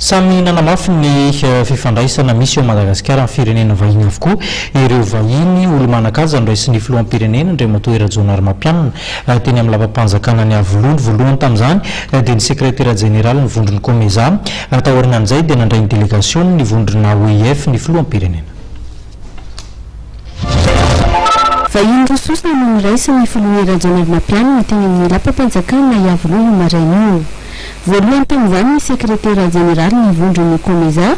Samy nanamafy ny fifandraisana misy eo amin'i Madagasikara amin'ny firenena vahiny avokoa ireo vahiny. Olo-manan-kaja noraisin'ny filoham-pirenena Andriamatoa Rajaonarimampianina teny amin'ny lapam-panjakana Niavoloha. Ny voalohany tamin'izany dia ny sekretera jeneralin'ny vondron'ny Comeza. Taorianan'izay dia nandray ny delegasiona ny vondrona OIF ny filoham-pirenena. Vahiny roa sosona no niraisin' ny Filoha Rajaonarimampianina teny amin' ny lapam-panjakana Iavoloha io maraina io. Voalohany tamin' izany ny sekretera jeneraly ny vondron' ny Comeza,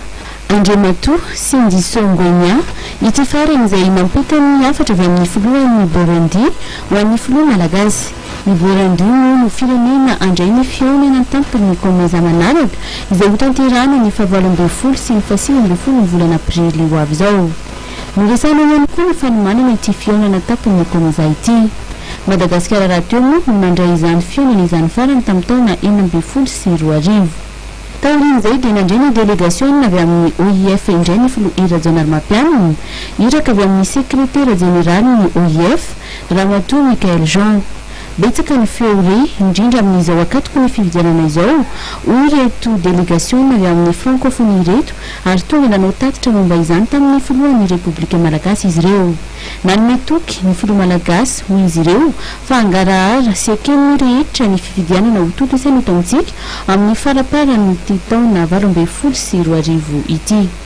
Andriamatoa Sindiso Ngwenya, ity farany izay nampita ny hafatra avy amin' ny Filohan' i Burundi ho an' ny Filoha malagasy. Ny voarangy moa no firenena handray ny fihaonana an-tampony ny Comesa manaraka, izay hotanterahana ny fahavalo ambin'ny folo sy ny fahasivy ambin'ny folo ny volana aprily ho avy izao. Noresahana ihany koa ny fanomanana ity fihaonana an-tampony ny Comesa ity. Madagasikara rahateo moa no nandray izany fihaonana izany farany tamin'ny taona enina ambin'ny folo sy roa arivo. Taorian'izay dia nandray ny delegasiona avy amin'ny OIF indray ny filoha Hery Rajaonarimampianina, iraka avy amin'ny sekretera jeneralin'ny OIF, Ramatoa Michaëlle Jean. Betsaka ny feo re, indrindra amin'izao akatoky ny fifidianana izao, hoy ireto delegasiona avy amin'ny Frankofonia ireto ary tonga nanao tatitra momba izany tamin'ny filohan'ny Repoblika Malagasy izy ireo. Nanome toky ny filoha Malagasy, hoy izy ireo, fa hangarahara sy hekeny rehetra ny fifidianana ho tontosaina eto amintsika, amin'ny faraparan'ity taona valo ambin'ny folo sy roa arivo ity.